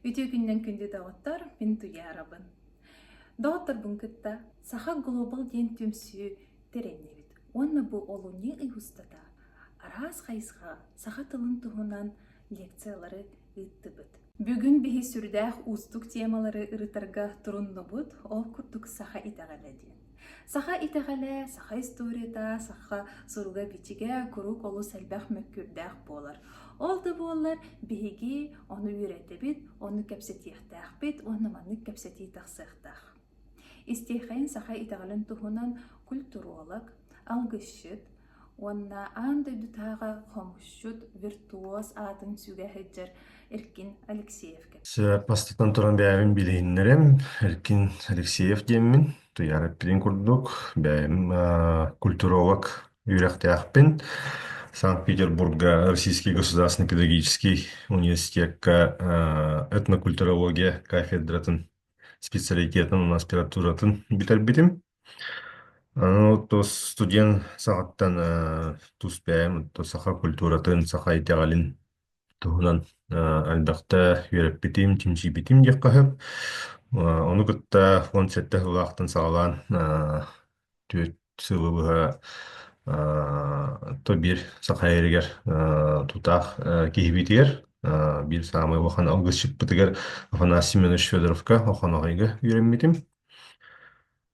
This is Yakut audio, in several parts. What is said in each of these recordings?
Үтүө күннэн күндү доҕоттор, мин Туйаарабын. Доҕотторбун кытта Саха Глобал диэн түмсүү тэрэннибит уонна бу олунньу ый устата араас хайысха саха тылын туһунан лекциялары ыыттыбыт. Бүгүн биһи сүрдээх уустук темалары ырытарга туруннубут, ол курдук саха итэҕэлэ диэн. Саха итэҕэлэ, саха историята, саха суруга-бичигэ куруук олус элбэх мөккүөрдээх буолар. Ол да буоллар биһиги ону үөрэтэбит, ону кэпсэтиэхтээхпит уонна маннык кэпсэтии тахсыахтаах. Истиэхэйин саха итэҕэлин туһунан культуролог, алгысчыт, Уонна аан дойдутааҕы хомусчут, виртуоз аатын сүгэһэйдьэр Эркин Алексеевка. Бастатан туран бэйэбин билиһиннэрим. Эркин Алексеев диэммин, Туйаара эппитин курдук, бэйэм культуролог үөрэхтээхпин. Санкт-Петербурга Российский государственный педагогический университекка этнокультурология кафедратын специалитетын аспирантуратын бүтэрбитим. Аны тус студент саҕаттан э, тус бэйэм оттон саха культуратын, саха итэҕэлин туһунан э, элбэхтэ үөрэппитим, чинчийбитим диэххэ сөп. Э, Ону кытта уон сэттэ сыллаахтан саҕалаан э, түөрт сылы быһа э, то биир саха эригэр э, тутаах э, киһибитигэр э, биир саамай улахан алгысчыппытыгар Афанасий Семенович Федоровка Охоноҕойга үөрэммитим.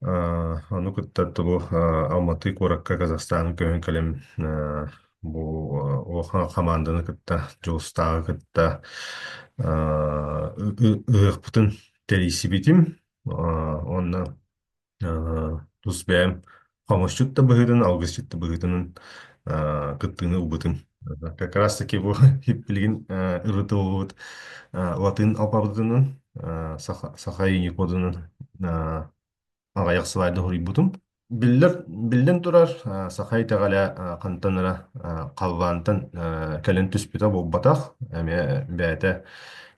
Э, Ону кытта тылу э, Алматы куоракка Казахстаны көһөн кэлэн э, бу э, Охан хамаанданы кытта Дьулустааҕы кытта э, ы- ы- ыһыахпытын тэрийсибитим. Э, Онно э, тус бэйэм Хомусчут да быһыытын, алгысчыт да быһыытынан а, кыттыыны ылбытым. Как раз таки бу билигин а, ырытыллыбыт а, латыын алфавытынан, а, саха, саха иини кодунан а, аҕайах слайда хоруйбутум. Биллэр, биллэн турар, а, саха итэҕэлэ а, хантанара а, халлаантан а, кэлэн түспүтэ буолбатах. Эмиэ бэйэтэ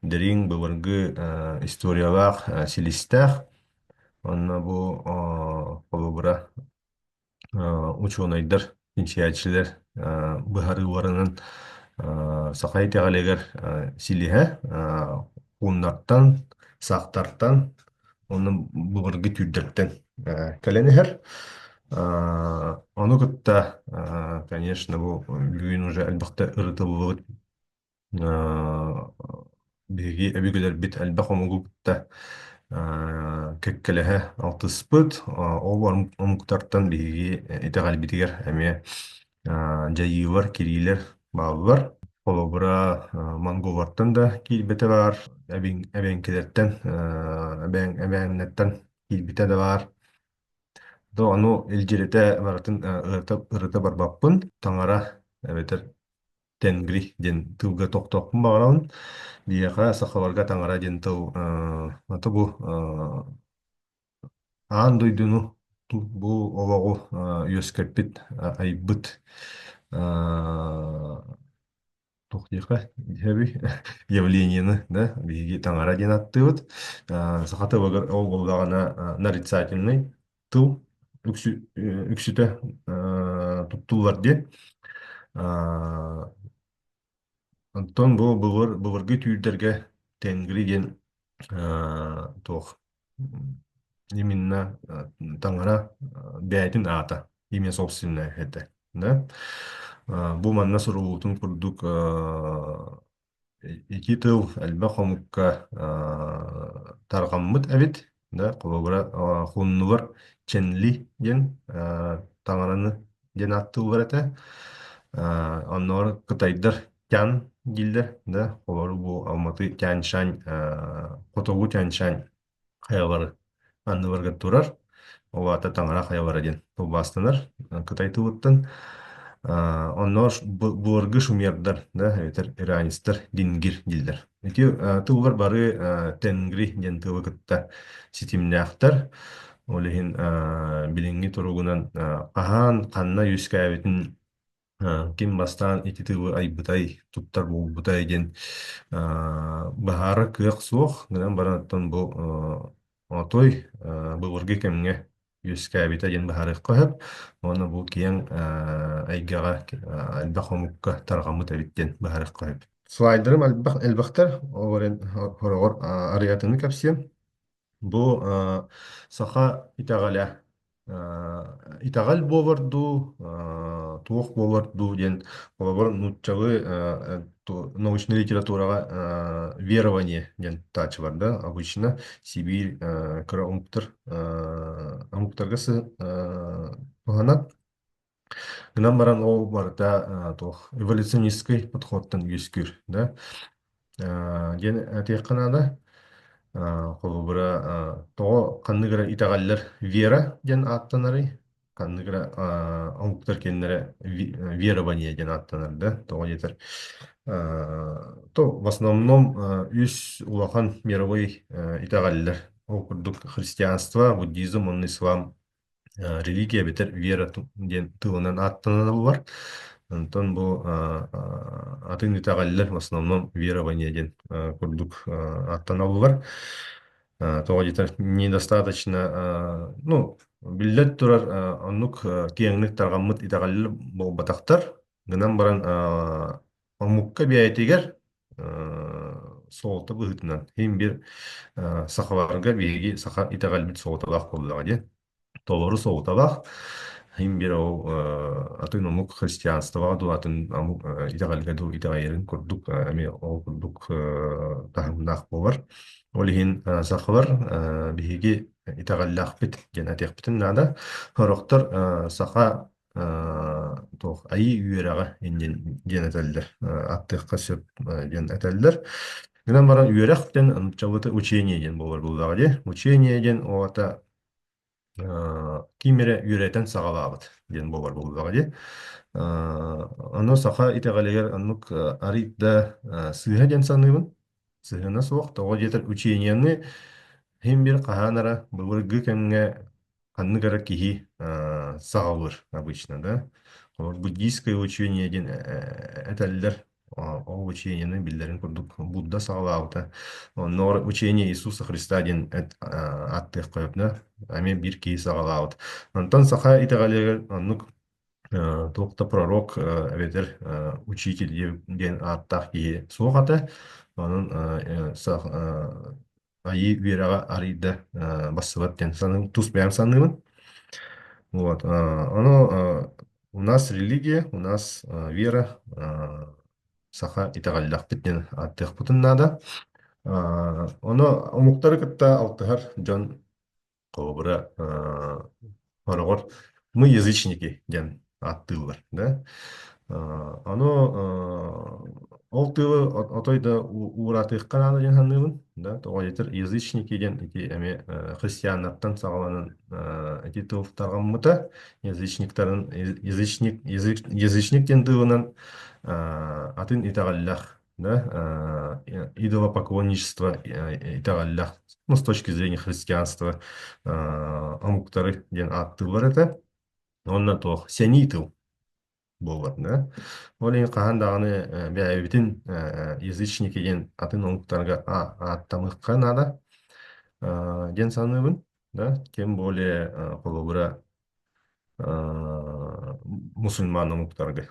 дириҥ, былыргы а, историялаах а, силистээх. Онно бу а, холобура а, учуонайдар, чинчийээччилэр а, быһарыы уоранын а, саха итэҕэлигэр а, силиһэ а, хууннартан, саахтартан, онно былыргы түүрдэртэн а, кэлэн иһэр. А, Ону кытта, а, конечно, бу бүгүн уже элбэхтэ ырытыллыбыт Э, Биһиги өбүгэлэрбит элбэх омугу кытта э, кэккэлэһэ алтыспыт. Э, Ол ом- омуктартан биһиги итэҕэлбитигэр эмиэ э, дьайыылар, кириилэр бааллар. Холобура, э, монголлартан да киирбэтэ баар, эбэҥ эбэҥкилэртэн, э, эбээн эбээннэртэн киирбитэ да баар. Да ону илдьиритэ барытын э, ырыта ырыта барбаппын, таҥара эбэтэр Тенгри диэн тылга тохтоохпун баҕарабын. Биһиэхэ сахаларга таҥара диэн тыл э, ата бу э, аан дойдуну бу олоҕу э, үөскэппит э, айбыт э, туох диэхэ диэби явленияны да биһиги таҥара диэн аттыыбыт. Э, саха тылыгар ол буоллаҕына э, нарицательнай тыл үксү, э, үксүтэ э, туттуллар диэн. Э, Онтон бу былыр, былыргы түүрдэргэ тенгри диэн э, туох именно э, таҥара э, бэйэтин аата имя собственное этэ. Да? Э, Бу манна суруллуутун курдук э, Ити тыл элбэх омукка аа, тарҕаммыт эбит. Да, холобура, а, хуннулар ченли диэн а, таҥараны диэн аат тыллар этэ. А, оннооҕор кытайдар тян дииллэр, да, холобура бу алматы тяньшань, а, хотугу тяньшань хайабары анныбарга турар. Ол аата таҥара хайабара диэн тылбаастанар Кытай тылыттан. А, Онно ш- бу- былыргы шумердар, да, эбэтэр иранецтар дингир дииллэр. Ити а, тыллар бары а, тенгри диэн тылы кытта ситимнээхтэр. Ол иһин а, билиҥҥи туругунан а, хаһаан ханна үөскээбитин А, ким бастаан ити тылы айбытай, туттар буолбутай диэн а, баһаара кыах суох гынан баранаттан бу а, отой а, былыргы кэмҥэ үөскээбитэ диэн баһаарыахха сөп. Уонна бу киэҥ а, эйгэҕэ а, элбэх омукка тарҕаммыт эбит диэн баһаарыахха сөп. Слайдерым элбэх элбэхтэр. Ол эрэн хороҕор а, арыйатыны кэпсиэм. Бу а, саха итэҕэлэ. Э, итэҕэл буолар дуу, э, туох буолар дуу диэн холобур нууччалыы э, ту- научнай литератураҕа э, верование диэн таача бар да обычно Сибирь э, кыра омуктар э, омуктарга сы- э, туһанар. Гынан баран ол барыта э, туох эволюционистскай подходтан үөскүүр, да? Э, диэн этиэххэ наада. Э, холобура, э, тоҕо ханнык эрэ итэҕэллэр вера диэн ааттанарый? Ханнык эрэ э, омуктар кэннэрэ ви- э, верование диэн ааттанар да? Тоҕо диэтэр, э, то в основном э, үс улахан мировой э, итэҕэллэр. Ол курдук христианство, буддизм, он ислам. Э, религия эбэтэр вера ту- диэн тылынан ааттанабылар. Онтон бу а, а, атын итэҕэллэр в основном верование диэн а, курдук а, ааттанабылар. А, тоҕо диэтэр недостаточно а, ну биллэн турар а, оннук а, киэҥник тарҕаммыт итэҕэллэр буолбатахтар. гынан баран э, омукка бэйэтигэр э, суолта быһыытынан химбир э, сахаларга биһиги саха итэҕэлбит суолталаах буоллаҕа диэн толору суолталаах химбир ол э, атын омук христианствоҕа дуу атын омук э, итэҕэлгэ дуу итэҕэйэрин курдук э, эмиэ ол курдук э, таһымнаах буолар ол иһин э, сахалар э, биһиги итэҕэллээхпит диэн этиэхпитин наада сорохтор э, саха Э, туох айыы үөрэҕэ диэн диэн этэллэр Э, аттыахха сөп э, диэн этэллэр гынан баран үөрэх диэн нууччалыта учение диэн буолар буоллаҕа дии учение диэн оҕото э, ким эрэ үөрэтэн саҕалаабыт диэн буолар буоллаҕа дии Э, ону саха итэҕэлигэр оннук э, арыый да э, сыыһа диэн саныыбын сыһыана суох тоҕо диэтэр учениены һин бир хаһан эрэ былыргы кэмҥэ ханнык эрэ киһи э, саҕалыыр обычно, да. Олор буддийское учение диэн э, э, этэллэр. А, Ол учениены биллэрин курдук Будда саҕалаабыта. Онно учение Иисуса Христа диэн эт- э, ааттыах қойобна. Ами бир киһи саҕалаабыт. Онтон саха итэҕэлигэр оннук э, туох да пророк э, эбэтэр э, учитель диэн ааттаах киһи суох ата. Онон э, э, сах- э, Айыы үөрэҕэ арыйда э, бассабат диэн саныым, тус бэйэм саныыбын. Вот. э, Оно э, у нас религия, у нас э, вера, э, саха итэҕэллэхпит диэн ааттыахпытын наада. Э, Оно омуктары кытта алтыһар дьон Холобура, э, хороҕор мы язычники диэн ааттыыллар, да? Э, ону э, ол тылы отой да ууратыахха наада диэн саныыбын, да? Тоҕо диэтэр язычники диэн ити эмиэ э, христианнартан саҕаланан э, ити тыл тарҕаммыта. Язычниктарын язычник язычник диэн тылынан э, атын итэҕэллэх да, э, идолопоклонничество э, итэҕэллэх. Ну, с точки зрения христианства э, омуктары диэн ааттыыллар этэ. Онно туох сэнии тыл буолбат да. Ол иһин хаһан даҕаны э, бэйэбитин э, язычники диэн атын омуктарга а- ааттамыахха наада э, диэн саныыбын. Да, тем более э, холобура э, мусульман омуктарга.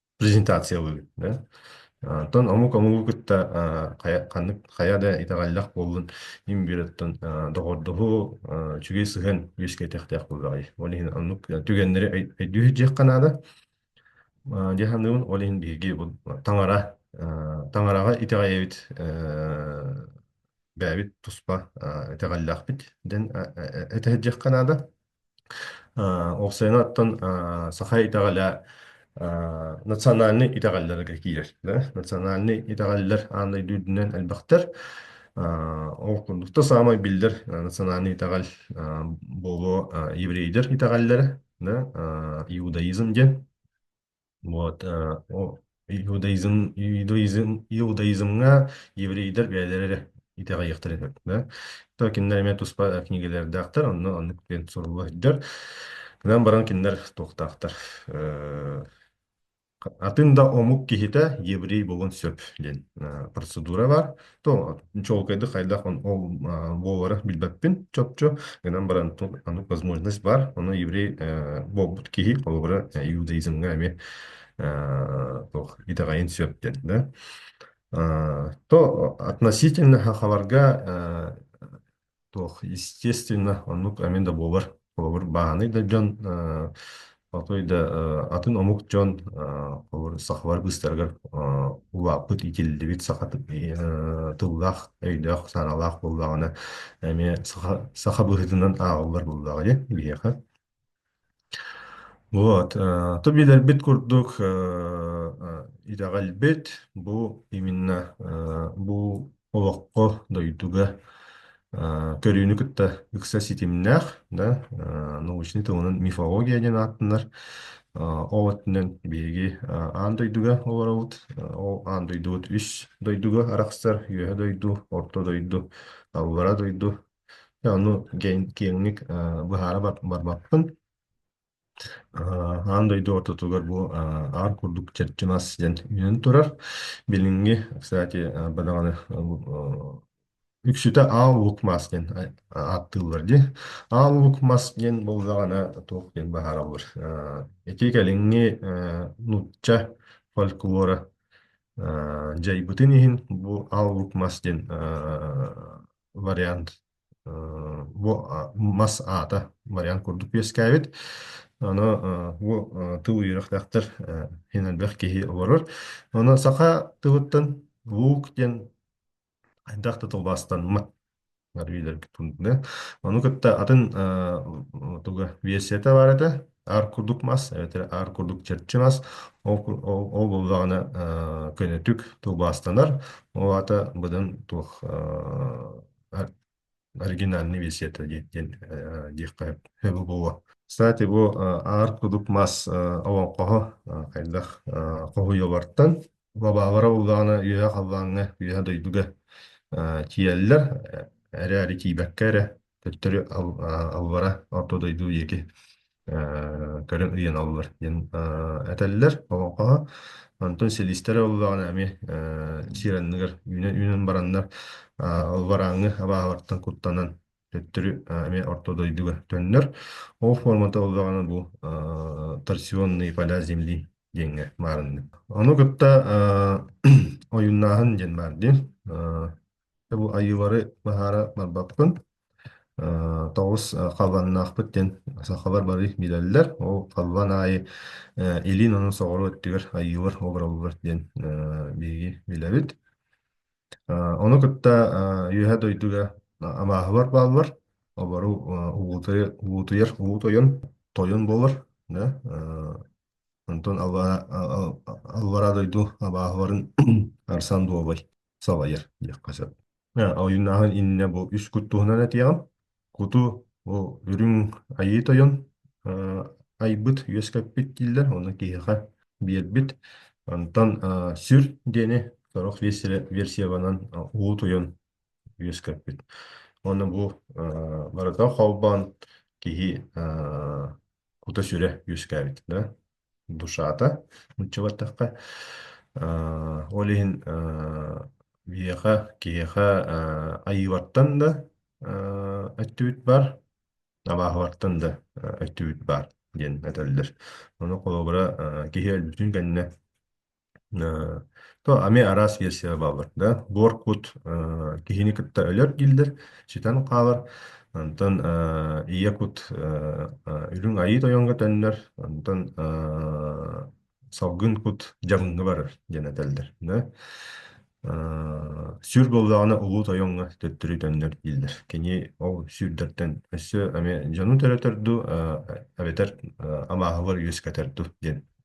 презентациялыыбыт да. Оттон омук омугу кытта а, хайа, ханнык, хайа да итэҕэллэх буоллун имбиреттон доҕордоһуу а, үчүгэй сыһыан үөскэтэхтээх буолаҕай. Ол иһин оннук түгэннэри өй- өйдүүр диэххэ наада. А, Дьэ саныыбын, ол иһин биһиги бу таҥара а, таҥараҕа итэҕэйэбит э, бэйэбит туспа а, итэҕэллээхпит дэн э, э, э, этэ диэххэ наада. Э, ол сыанаттан э, саха итэҕэлэ э, национальнай итэҕэллэргэ киирэр. да? Национальнай итэҕэллэр аан дойду үрдүнэн элбэхтэр. Э, ол курдук да саамай биллэр э, национальнай итэҕэл э, буолуо э, еврейдэр итэҕэллэрэ, да? Э, иудаизм диэн. Вот, э, о, иудаизм, иудаизм, иудаизмҥа еврейдэр бэйэлэрэ эрэ итэҕэйиэхтэр этэ, да? То кинилэр эмиэ туспа книгалэрдээхтэр, онно оннук диэн суруллар. Гынан баран кинилэр туохтаахтар? Э, атын да омук киһитэ еврей буолуон сөп диэн э, процедура бар. то чуолкайдык хайдах он ол а, буолара билбэппин чопчу гынан баран ту- аны возможность бар ону еврей э, буолбут киһи холобура э, иудаизмҥа эмиэ э, туох итэҕэйин сөп диэн да А, то относительно хахаларга Туох, естественно, оннук эмиэ да буолар. Холобур, бааһынай да дьон, э, отой да э, атын омук дьон, э, холобур, сахалар быыстарыгар э, улааппыт, итиллибит саха т- э, тыллаах, өйдөөх, санаалаах буоллаҕына, эмиэ саха, саха быһыытынан ааҕыллар буоллаҕа дьэ, биһиэхэ. Вот, э, то билэрбит курдук э, э, ирэҕэлбит бу именно э, бу олоххо, дойдуга э, көрүүнү кытта ыкса ситимнээх, да, э, научный тылынан мифология диэн ааттанар. Э, ол өттүнэн биһиги э, аан дойдуга олоробут. Э, ол аан дойдубут үс дойдуга арахсар: үөһэ дойду, орто дойду, аллара дойду, Ону киэҥник быһаара барбаппын. Аан дойду ортотугар бу аар курдук чэрчи мас диэн үүнэн турар. Билиҥҥи, кстати, бадаҕаны үксүтэ аал лук мас диэн ааттыыллар дии. Аал лук мас диэн буоллаҕына туох диэн баһаараллар. Ити кэлиҥҥи нуучча фольклора дьайбытын иһин бу аал лук мас диэн вариант бу мас аата вариант курдук үөскээбит. Аны бу тыл үөрэхтээхтэр иһин элбэх киһи олорор. Аны саха тылыттан луук диэн хайдах да тылбастанмат арыйларгытын. Ону кытта атын туга версията бар этэ. Аар курдук мас эбэтэр аар курдук чэрчи мас ол ол буоллаҕына э, көнөтүк тылбаастанар. Ол аата быдан туох э, оригинальный версията диэн диэн э, диэххэ сөбө буолуо. Кстати, бу э, аар кудук мас э, олоҥхоһо э, хайдах э, хоһуйулартан лабаабара буллаҕына үөһэ халлааҥҥа үөһэ дойдуга э, тиийэллэр э, эрээри тиийбэккэ эрэ Төттөрү аллара орто дойду диэки э, көрөн ыйан аллылар диэн э, этэллэр олоҥхоҕо. Онтон силистэрэ olluоҕuna эмиэ э, сиэр анныгар үүнэн үүнэн бараннар э, албарааҥҥы абааһылартан куттанан төттөрү э, эмиэ орто дойдуга төннөр. Ол формата olluоҕuna бу э, торсионные поля земли диэҥҥэ баарыннык. Ону кытта э, ойуннааһын диэн баар диэн. Э, Бу Айыылары баһаара барбаппын. Э, тоҕус э, халбаннаахпыт диэн сахалар бары билэллэр. Ол халбан аайы э, илин онон соҕуруу өттүгэр Айыылар обураллар диэн э, биһиги билэбит. Э, Ону кытта э, Үөһэ дойдуга абааһылар бааллар. Обору э, уутуйар, уутуйар уу тойон, тойон буолар. Да? Онтон албараа, албараа дойду абааһыларын арсан дуобай. салайар диэххэ сөп. Э, ойуннааһын иннинэ бу үс кут туһунан этиэҕим. Куту бу үрүҥ айыы тойон э, айбыт, үөскэппит дииллэр. Оны киһиэхэ биэрбит. Онтон э, сүр диэни сорох версиябанан э, уу тойон үөскэппит. Оны бу э, барыта холбоон киһи э, кута-сүрэ үөскээбит. Да? Душата нуччалатахха Э, ол иһин э, Веха киһиэхэ э, Айыылартан да э, өттүбүт бар, Абаахылартан да э, өттүбүт бар диэн этэллэр. Ону холобура э, киһи өлбүтүн кэннэ Э, то ами араас версия баалар да буоркут э, киһини кытта өлөр дииллэр ситэн хаалар антон э, ийэ кут э, э, үрүҥ айыы тойонго төннөр антон э, салгын кут дьаҥҥа барар диэн этэллэр да Э, сүр буоллаҕына улуу тойоҥҥо төттөрү төннөр дииллэр кини ол сүүрдэртэн өссө ами дьону төрөтөр ду э, эбэтэр э, амааһылар үөскэтэр ду диэн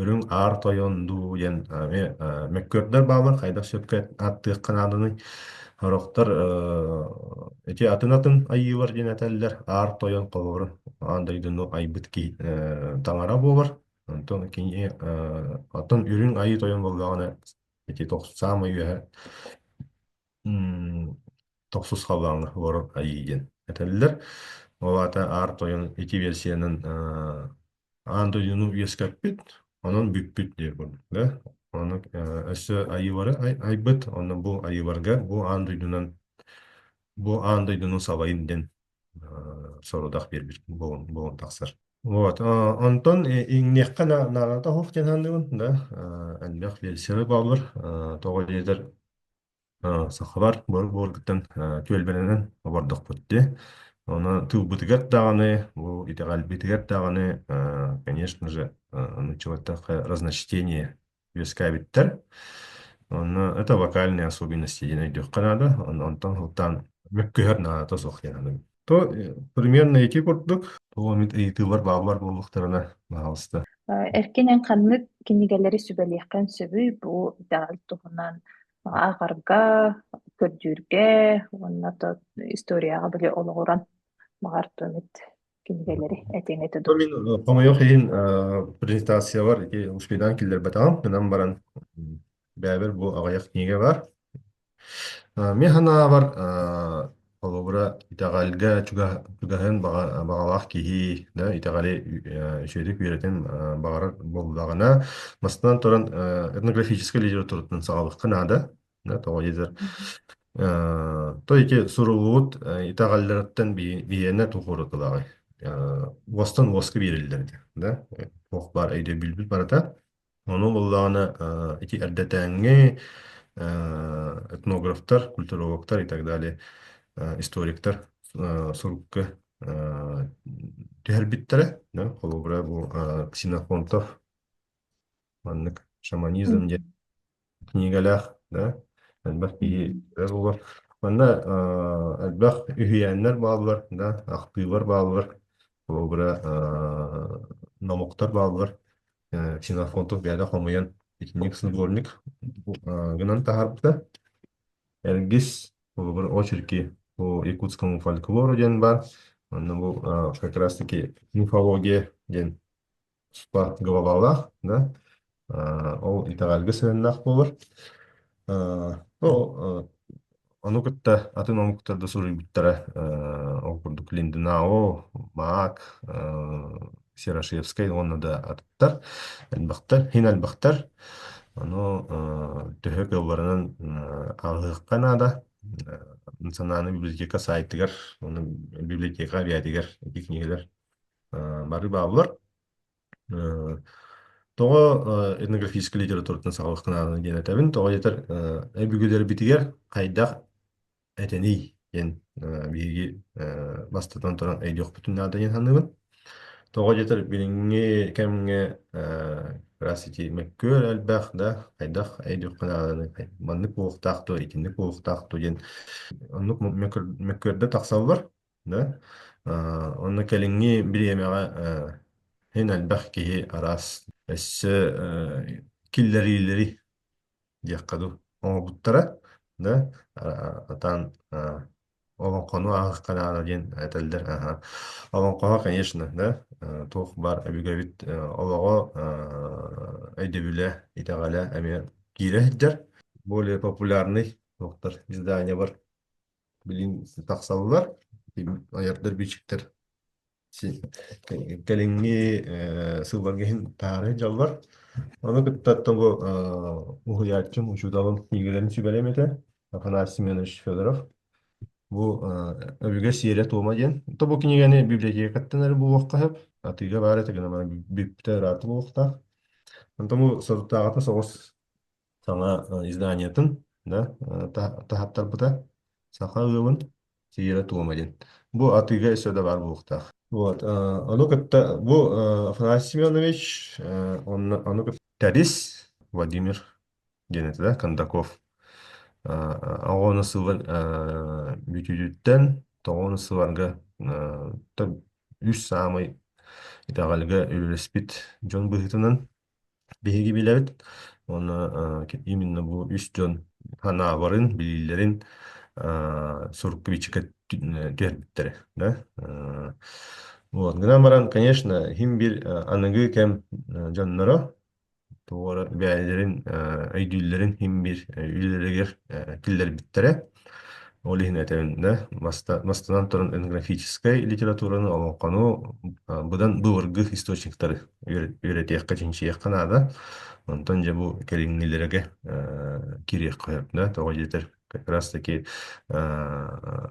Үрүҥ Аар Тойон дуу диэн эмиэ э, мөккүөрдэр бааллар, хайдах сөпкө ааттыахха нааданый? Сорохтор э, ити атын атын айыылар диэн этэллэр. Аар Тойон хоһоорун аан дойдуну айбыт киһи э, таҥара буолар. Онтон кини э, оттон Үрүҥ Айыы Тойон буоллаҕына ити тохс саамай үөһэ м, тохсус халлааҥҥа олорор айыы диэн этэллэр. Ол аата Аар Тойон ити версиянан э, Аан дойдуну үөскэппит, онон бүппүт диир курдук да. Ону э, өссө айыылары ай- айбыт, онно бу айыыларга бу аан дойдунан бу аан дойдунun сабайын диэн э, сорудах биэрбит буолун буолун тахсар. Вот, э, онтон э, иҥниэххэ на- наада тоһох диэн аһындыбын да, э, элбэх версияны бааллар, э, тоҕо диэтэр Э, Сахабар Буор-Буоргуттан э, түөлбэлэринэн обордохпут дии. Оны тылбытыгар даҕаны, бу итэҕэлбитигэр даҕаны, э, конечно же, э, нучеваттахы разночтение үөскээбиттэр. Онно это вокальные особенности диэн өйдүөххэ наада. Он- Онтон сылтаан мөккүһэр наада суох диэн аныгы. То примерно ити курдук, тоҕо эмит ыйытыылар бааллар буоллахтарына баҕаласта. Эркинэн ханнык кинигэлэри сүбэлиэххин сөбүй? Бу итаҕал туһунан ааҕарга, көрдүүргэ уонна то историяҕа били олоҕуран баҕар то эмит кинигэлэри этиэҥ То мин э, хомойуох иһин э, презентациябар ити успейтаан киллэрбэтэҕим, гынан баран Бэбир бу аҕыйах книга бар. Э, Мен санаабар э, холобура итэҕэлгэ чугас чугаһын баҕа- баҕалаах киһи да итэҕэли э, үчүгэйдик үөрэтин э, баҕарар буоллаҕына, мастан туран э, этнографическай литератураттан саҕалыахха наада. Да, тоҕо диэтэр э, той суруллубут э, итэҕэллэриттэн бии- биһиэнэ тулхуурутулаҕай. Э, Уостан уоска биэриллэр ити. Да? Туох баар өйдөбүлбүт барыта Ону буллаҕына э, ити эрдэтээҥҥи э, этнографтар, культурологтар и так далее, э, историктар э, сурукка э, түһэрбиттэрэ. да, холобура бу э, Ксенофонтов маннык шаманизм диэн Книгалаах, да? Элбэх киһи кэлэр буолар. Манна э, элбэх үһүйээннэр бааллар, да? Ахтыылар бааллар, холобура э, номохтор бааллар. Э, Ксенофонтов бэйэтэ хомуйан итинник снегурник э, гынан таһаарбыта. Эргис, холобур, очерки по якутскому фольклору диэн баар. Манна бу э, как раз-таки мифология диэн спорт главалаах, да, а, ол итэҕэлгэ сыһыаннаах буолар. А, ну, а, ону кытта атын омуктар да суруйбуттара. А, ол курдук Линденау, Маак, а, Серошевскай уонна да атыттар, элбэхтэр, хин элбэхтэр. Ону а, төһө кыалларынан а, ааҕыахха наада. А, национальный библиотека сайтыгар, уонна библиотека объятигар эти книгалар бары бааллар. Э, Тоҕо э, этнографическай литературатын саҕалах гынаарын диэн этэбин. Тоҕо диэтэр э, өбүгэлэрбитигэр хайдах этэний диэн э, биһиги э, бастатан туран өйдüөхпүтүн наада диэн саныыбын. Тоҕо диэтэр билиҥҥи кэмҥэ э, раз ити мөккүөр элбэх да хайдах өйдүөххэ нааданы маннык уохтаах дуо итинник уохтаах дуо диэн оннук мөккүөрдэ тахсаллар. Да? Э, онно кэлиҥҥи бириэмэҕэ э, эн элбэх киһи араас өссө э, киллэриилэри диэххэ дуу оҥорбуттара да а- атаан а, олоҥхону ааһыахха наада диэн этэллэр аха олоҥхоҕо конечно да э, туох баар өбүгэбит э, олоҕо э, өйдөбүлэ итэҕэлэ эмиэ киирэ сылдьар более популярный туохтар издания бар билин тахсаллар айардар бичиктэр кэлиҥҥи сылларга иһин таары дьаллар ону кытта тоҕу уһуйааччым учууталым книгаларын сүбэлэм этэ Афанасий Семенович Федоров бу өбүгэ сиэрэ-туома диэн то бу кинигэни библиотекаттанары булуохха сөп атыыга баар этэ гына бүппүтэ ыраата буолуохтаах онтон бу соруктааҕыта соҕус саҥа э, изданиетын да э, та- таһаттарбыта саха ыалын Сиера Туома диэн. Бу атыыга өссө да баар буолуохтаах. Вот, э, ону кытта бу э, Афанасий Семенович э, онно, ону кытта Тарис Владимир диэн этэ да Кондаков э, оҕону сылын э, бүтүүтүттэн тоҕону сыларга э, та- үс саамай итэҕэлгэ үлэлэспит дьон быһыытынан Биһиги билэбит уонна э, именно бу үс дьон ханаабарын, билиилэрин э, сурукпичка түһэрбиттэрэ. Да? Э, Вот. Гынан баран, конечно, хим бир э, аныгы кэм э, дьонноро туора бэйэлэрин э, өйдүүллэрин хим бир э, үлэлэригэр э, киллэрбиттэрэ. Ол иһин этэнэ маста, мастынан туран этнографическай литератураны олоҥхону а, быдан былыргы источниктары үөрэтиэххэ, чинчийиэххэ наада. Онтон дьэ бу кэриҥнилэргэ э, кириэххэ сөп да тоҕо диэтэр как раз таки э,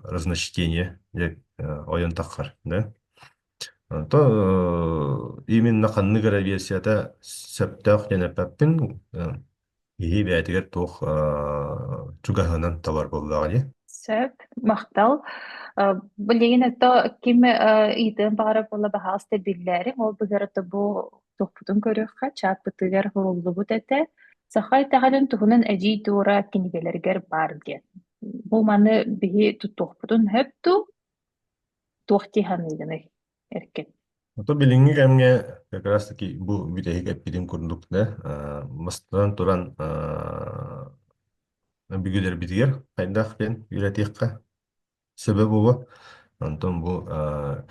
разночтение дьэ э, ойон таххар да то э, именно ханнык эрэ версията сөптөөх диэн эппэппин э, Киһи бэйэтигэр туох э, чугаһынан талар буоллаҕа дии? Сөп, махтал. Э, Билигин ото ким э, ыйытыан баҕара буола баһаалыста биллээриҥ, ол быһыарата бу тохпутун көрүөххэ, чааппытыгар суруллубут этэ. Саха итэҕэлин туһунан эдьиий туора кинигэлэригэр баар диэн. Бу маны биһи туттуохпутун сөп дуу, туох дии саныыгыный? Эркин. Ото билиҥҥи кэмҥэ как раз таки бу бүтэһик эппитим курдук да э, бастатан туран э, бүгүлэрбитигэр хайдах диэн үйрэтиэххэ сөбө буолуо. Онтон бу э,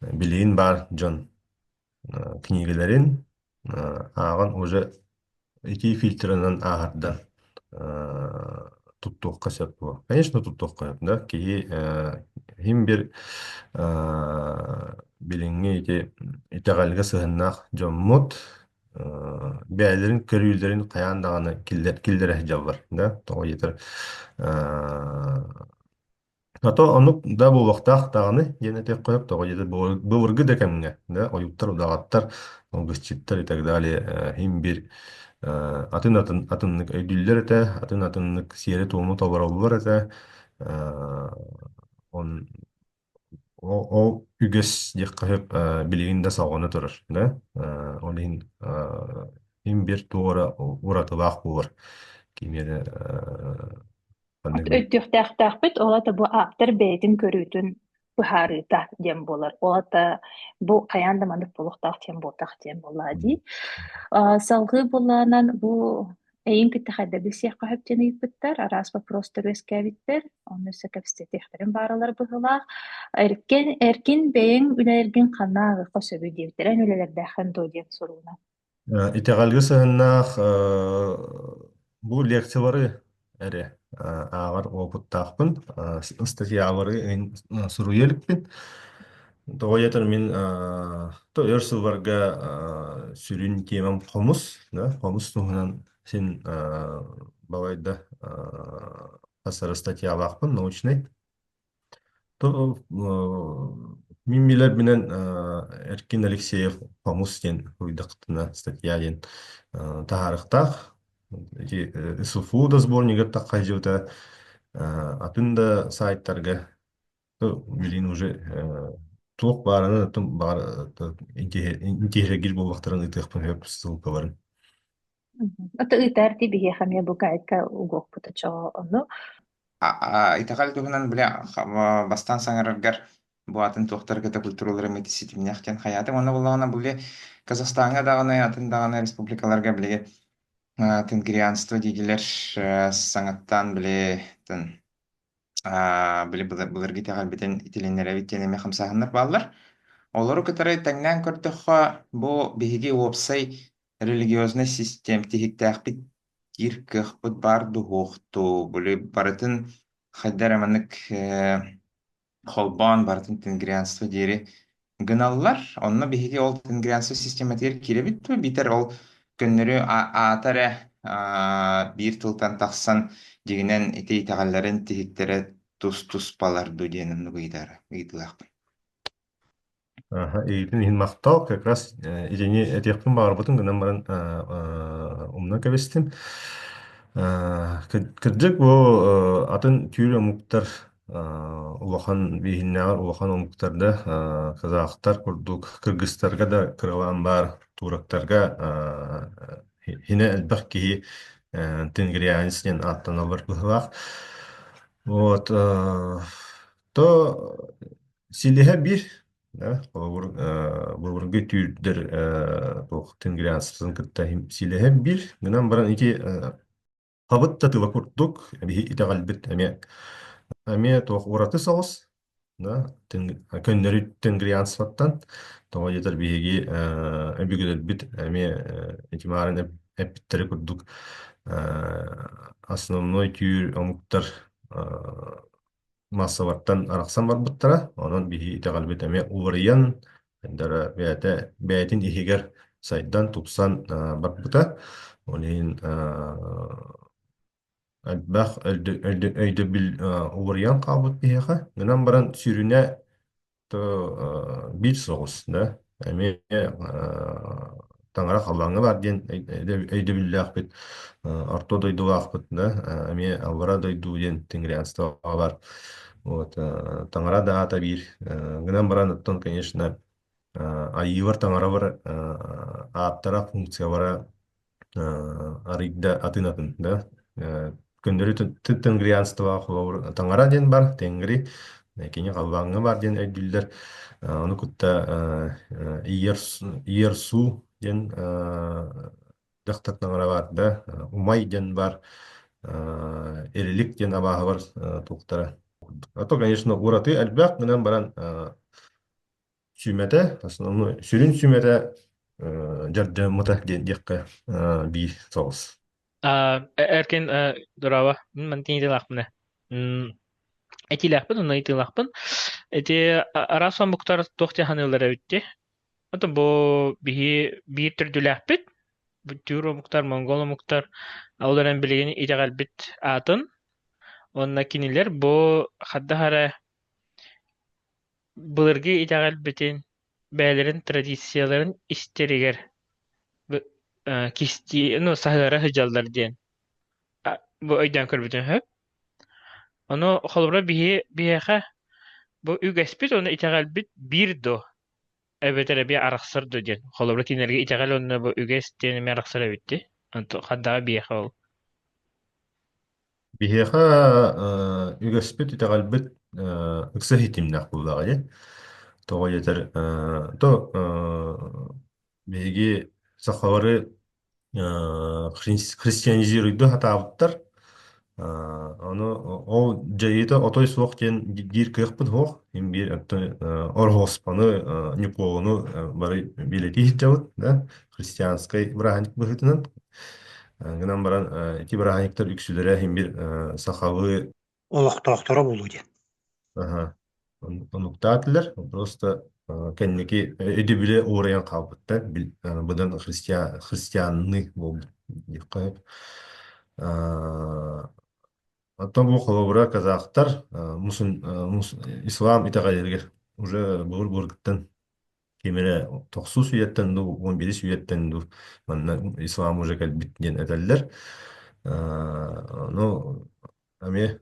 билигин баар дьон э, кинигэлэрин ааҕан уже итии фильтрынан ааһардан туттуохха сөп дуо? Конечно, туттуохха сөп да. Киһи иһин бир билиҥҥи ити итэҕэлгэ сыһыаннаах дьоммут бэйэлэрин көрүүлэрин хайаан даҕаны киллэр киллэрэ сылдьаллар да. Тоҕо диэтэр А то оннук да буолуохтаах даҕаны диэн этиэххэ тоҕо диэтэр былыр- былыргы да кэмҥэ да ойууттар удаҕаттар алгысчыттар и так далее э, иһин-бир э, атын атын атыннык өйдүүллэр этэ атын атыннык сиэри-туому толороллор этэ Э, он ол ол үгэс диэххэ сөп э, билигин да салҕана турар да Э, ол иһин э, им-бир туора уратылаах буолар кими эрэ э, өйдүөхтээхтээхпит ол это бу ааптар бэйэтин көрүүтүн быһаарыыта диэн буолар ол это бу хайаан да маннык буолуохтаах диэн буолтах диэн буоллаа дии салгыы булаанан бу эйин киттэхайда билсиэххэ хөп диэн ыйыппыттар араас боппуруостар үөскээбиттэр онно өссө кэпсэтиэхтэрин бааралар быһылаах эркин эркин бэйэҥ үлэлэргин ханна аҕыхха сөбүй диэбиттэр эн үлэлэрдээххин дуу диэн сурууна Э, Итэҕэлгэ сыһыннаах э, бу лекциялары эрэ э, ааҕар уопуттаахпын. Э, с- Статьялары ин- э, суруйа иликпин. Тоҕо диэтэр мин э, то өр сылларга э, сүрүн тиэмэм хомус, да, хомус туһунан син э, балайда э, хас эрэ статьялаахпын научнай. То мин билэрбинэн э, Эркин Алексеев «Хомус» диэн уйдахтына статья диэн э, таһаарыктаах ити э, СУФУ досборнигар таххайдьыбыта э, атын да сайтарга то билин уже э, туох баарынан атын баар интиһиргир буолбахтарын ытыахпын сөп ссылкаларын Ата ыытаартий биһиэхэ эмиэ букайка угуохпут очоҕо ону. А-а, итэҕэл туһунан били х- бастаан саҥараргар бу атын туохтар кыта культуралара эмиэ ситимнээх диэн хайаатым. Уонна буоллаҕына бу били Казахстаҥҥа даҕаны атын даҕаны республикаларга били а, тенгрианство диигилэр э, саҥаттан били тын а, били былыр былыргы итэҕэлбитин итилиннэрэбит диэн эмиэ хамсааһыннар бааллар. Олору кытары тэҥнээн көрдөххө, бу биһиги уопсай Религиознай систем тиһиктээхпит диир кыахпыт баар дуһуохтуу. Били барытын хайдар маннык э, холбоон барытын тенгрианство диэри гыналлар. Онно биһиги ол тенгрианство систематыгар киирэбит дуо? Биитэр ол көннөрү а- аата эрэ а, биир тылтан тахсан дьигинэн ити итэҕэллэрин тиһиктэрэ тус-туспалар дуу диэн оннук ыйытара ыйытыылаахпын. Аха, иитин иһин махтал. Как раз э, итини этиэхпин баҕарбытым гынан баран э, э, умнан кэбистим. Э, кыр- Кырдьык бу э, атын түүр омуктар э, улахан бииһиннээҕэр улахан омуктарда э, казахтар курдук кыргыстарга да кыралаан баар турактарга э, хинэ элбэх киһи э, тенгрианец диэн ааттаналлар быһылаах. Вот, э, то Силиһэ bir, да, холобур э, былыргы түүрдэр э, туох тенгрианцтарын кытта иһим силиһэ bir гынан баран ити э, хабыт да тыла курдук биһи итэҕэлбит эмиэ эмиэ туох ураты соҕус да тең- көннөрү тенгрианствоттан тоҕо диэтэр биһиги э, өбүгэлэрбит эмиэ э, ити маарын эп- эппиттэри курдук э, основной түүр омуктар э, маассабаттан арахсан барбыттара. Онон биһи итэҕэлбит эмиэ уларыйан, эрдэрэ бэйэтэ бэйэтин иһигэр сайдан, тупсан а, барбыта. Ол иһин а, элбэх өйдө- өйдө- өйдөбүл а, уларыйан хаалбыт биһиэхэ. Гынан баран сүүрүнэ то биир соҕус да эмиэ таҥара халлааҥҥа баар диэн өйдөбүллээхпит орто дойдулаахпыт да эмиэ аллара дойду диэн тингрианствоҕа бар вот таҥара да аата биир гынан баран оттон конечно Айыылар таҥаралар ааттара функциялара арыйда атын атын да э, күндүлү тенгрианстваҕа холобур таҥара диэн бар тенгри э, кини халлааҥҥа баар диэн өйдүүллэр Э, ону кытта э, э, Иерс- Иерсу диэн э, дьахтар таҥара баар да э, Умай диэн бар э, Эрилик диэн абааһылар э, туохтара а то конечно ураты элбэх гынан баран э, Сүүмэтэ, основной, сүрүн сүмэтэ э, дьардьааммыта диэн диэххэ э, биир соҕус. А, эркин э, дорава мантин итилахпына этилахпын уна итилахпын эти арас омуктар туох тиханыылара бүтті ото бу биһи биир түрдүлээхпит бүттүүр омуктар монгол омуктар олорон билигин итэҕэлбит аатын онно кинилэр бу хаддаһара Былыргы итэҕэлбитин, бэйэлэрин традицияларын истэригэр кистии, ну, саһыара сыдьаллар диэн бу өйдөөн көрбүтүм үһү. Ону холобура биһи биһиэхэ бу үгэспит уонна итэҕэлбит биир доо, эбэтэр эбии арахсар доо диэн. Холобура кинилэргэ итэҕэл уонна бу үгэс диэн эмиэ арахсар эбит дии. Онту хандаҕа биһиэхэ ол. Биһиэхэ э, үгэспит, итэҕэлбит э, ыкса иһитиннэх буолаҕа дии. Тоҕо диэтэр, э, то э, биһиги сахалары э, христи- христианизируйду сатаабыттар. Э, ону ол дьайыыта отой суох диэн биир кыахпыт суох. Им биир оттон э, орхоспону, э, ньукуолуну э, бары билэтии иһиттэбит, да. христианскай бырааһынньык быһыытынан гынан баран ити бырааһынньыктар үксүлэрэ иһин бир сахалыы олохтоохторо буолуо диэн аха онуктаатылар просто кэнники өйдөбүлэ уурайан хаалбыттар быдан христиан христианный буолбут диэххэ оттон бу холобура казахтар мусун ислам итэҕэллэригэр уже былыр былыргыттан Ким эрэ тохсус үйэттэн дуу, уон биирис үйэттэн дуу манна ислам уже кэлбит диэн этэллэр. Аа, ну, эмиэ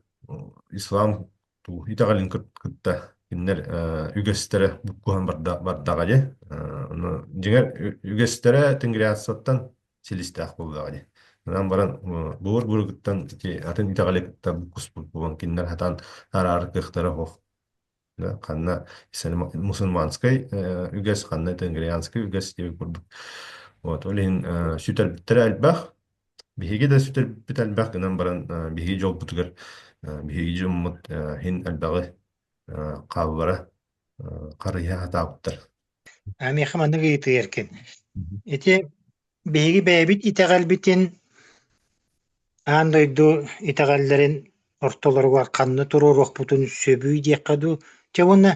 ислам туу итэҕэлин кыт- кытта кинилэр э, үгэстэрэ буккуһан барда бардаҕа дьэ. Э, ну, дьиҥэр ү- үгэстэрэ тенгриацияттан силистээх буоллаҕа дьэ. Манан баран э, былыр былыргыттан ити атын итэҕэли кытта буккуспут буолан кинилэр хатан араары кыахтара оһох. да, ханна мусульманскай э, үгэс, ханна тенгрианскай үгэс диэбит курдук. Вот, ол иһин э, сүтэрбиттэрэ элбэх. Биһиги да сүтэрбит элбэх гынан баран э, биһиги дьолбутугар э, биһиги дьоммут э, иһин элбэҕи э, хаалбара э, харыйа сатаабыттар. Миэхэ маннык ыйытыйаркын. Ити биһиги бэйэбит итэҕэлбитин аан дойду итэҕэллэрин ортолоругар ханна туруоруохпутун сөбүй диэххэ дуу, чэ уонна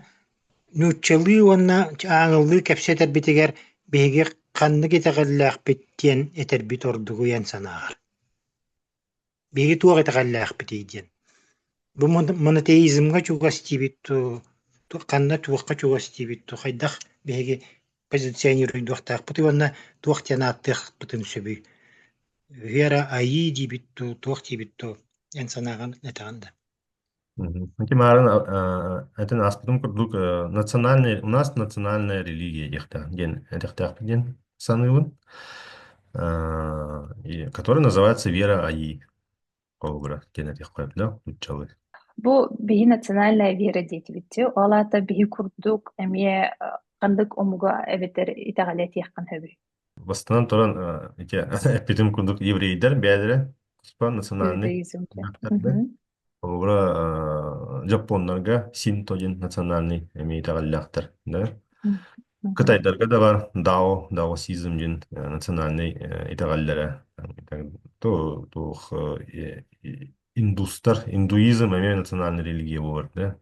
нууччалыы уонна ааҥылыы кэпсэтэрбитигэр биһиги ханнык итэҕэллээхпит диэн этэрбит ордук эн санааҕар? Биһиги туох итэҕэллээхпитий диэн. Бу монотеизмҥа чугас диибит дуу, ханна туохха чугас диибит дуу, хайдах биһиги позиционируйдуохтаахпытый уонна туох диэн ааттыахпытын сөбүй? Вера айыы диибит дуу, туох диибит дуу, эн санааҕын этэҕин да? Мгм. Ити марын атын аспытым курдук э, национальная, у нас национальная религия диэхтээх диэн этиэхтээхпит диэн саныыбын, А, и- которая называется вера Аи холобура диэн этиэххэ сөп нууччалыы. Бу биһи национальная вера диэтибитти, ол аата биһи курдук эмиэ э, ханнык омуга эбэтэр итэҕэли этиэххин сөбүй? Бастынан туран э, ити эппитим курдук еврейдэр бэйэлэрэ туспа национальный Иудаизм диэн. быһыктар да. Мгм. Холобура, э, жапоннарга синто диэн национальный эмиэ итэҕэллээхтэр, да? Мгм. Кытайдарга да бар дао, даосизм диэн э, национальный э, итэҕэллэрэ. Ту- туох э, э, индустар, индуизм эмиэ национальный религия буолар, да?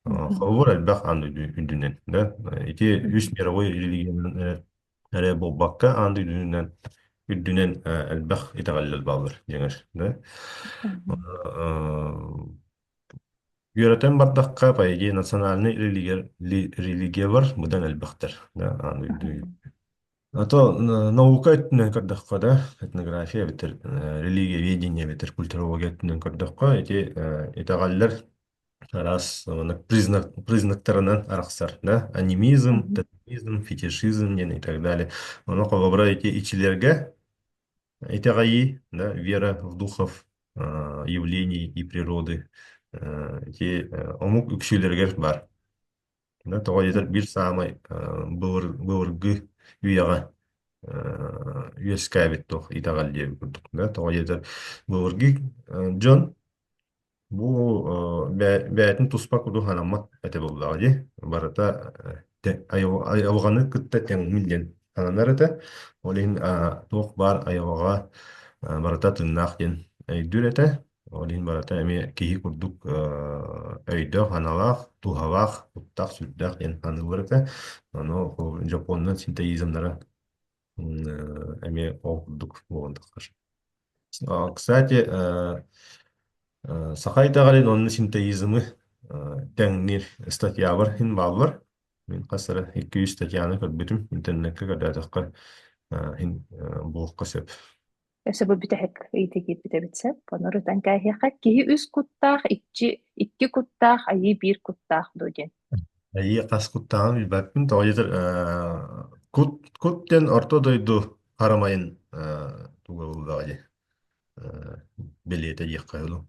Э, Мгм. Холобур, элбэх аны үрдүнэн, да? Ити үс мировой религиянан эрэ буолбакка аан дойдутунан үрдүнэн э, элбэх итэҕэллэр бааллар дьиҥэр да Э, үөрэтэн бардахха поэзия национальнай религия религия бар быдан элбэхтэр да аан дойду а то э, наука өттүнэн көрдөххө да этнография эбэтэр э, религия ведение эбэтэр культурология өттүнэн көрдөххө эти э, итэҕэллэр Раз маннык признак, признактарынан арахсар, да, анимизм, Мгм. тотализм, фетишизм диэн и так далее. Ону холобура эти ичилерге итэҕэйии, да, вера в духов а, явлений и природы, а, эти э, омук үксүлэригэр бар. Да, тоҕо диэтэр биир саамай э, былыр, былыргы үйэҕэ э, үөскээбит туох итэҕэл диэбит курдук. Да, тоҕо диэтэр былыргы э, дьон бу э, бэй- бэйэтин туспа курдук санаммат этэ буоллаҕа дии. Барыта э, те- айыл- айылҕаны кытта тэҥҥин диэн сананар этэ. Ол иһин а, туох баар айылҕаҕа а, барыта тыыннаах диэн өйдүүр этэ. Ол иһин барыта эмиэ киһи курдук э, өйдөөх-аналаах, дууһалаах, куттаах, сүрдээх диэн аныыллар этэ. Ону дьоппуоннар синтезизмнара м, э, эмиэ ол курдук буолан тахтар. А, Кстати, э, э, саха итэҕэлин уонна синтезизмы э, тэҥниир статьябар иһин бааллар. Мин хас эрэ икки жүз статьяны көрбүтүм, интернетке көрдөөтөххө э, иһин э, булуохха сөп. Сөбү бүтэһик ыйытыы киирбит эбит сөп. Ону ырытан кээһиэхэ. Киһи үс куттаах, иччи икки куттаах, айыы биир куттаах дуу диэн. Айыы хас куттааҕын билбэппин. Тоҕо диэтэр кут кут диэн орто дойду харамайын туга буллаҕа дии. Бэлиэтэ диэххэ дылу.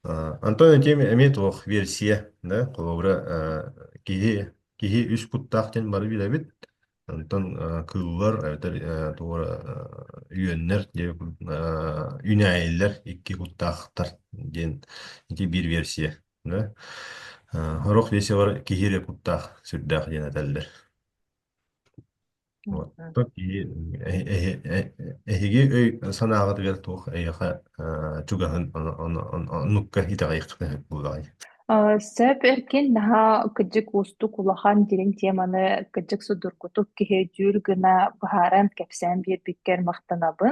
Антон этиэм эмиэ туох версия, да, холобура киһи киһи үс куттаах диэн бары билэбит. Онтон э, кыыллар эбэтэр э, туора э, үөннэр диэн э, үүнээйилэр икки куттаахтар диэн ити биир версия. да. Э, Орох версиялар киһи эрэ куттаах сүрдээх диэн этэллэр. Вот. Мгм. Оттон киһи эһи- эһи- э- эһиги өй-санааҕытыгар туох эйиэхэ э, чугаһын ону- ону- ону- оннукка итэҕэйиэххитин сөп буолаҕай. Э, Сөп эркин наһаа кырдьык уустук улахан дириҥ теманы кырдьык судургутук киһи дьүүр гына быһааран кэпсээн биэрбиккэр махтанабын.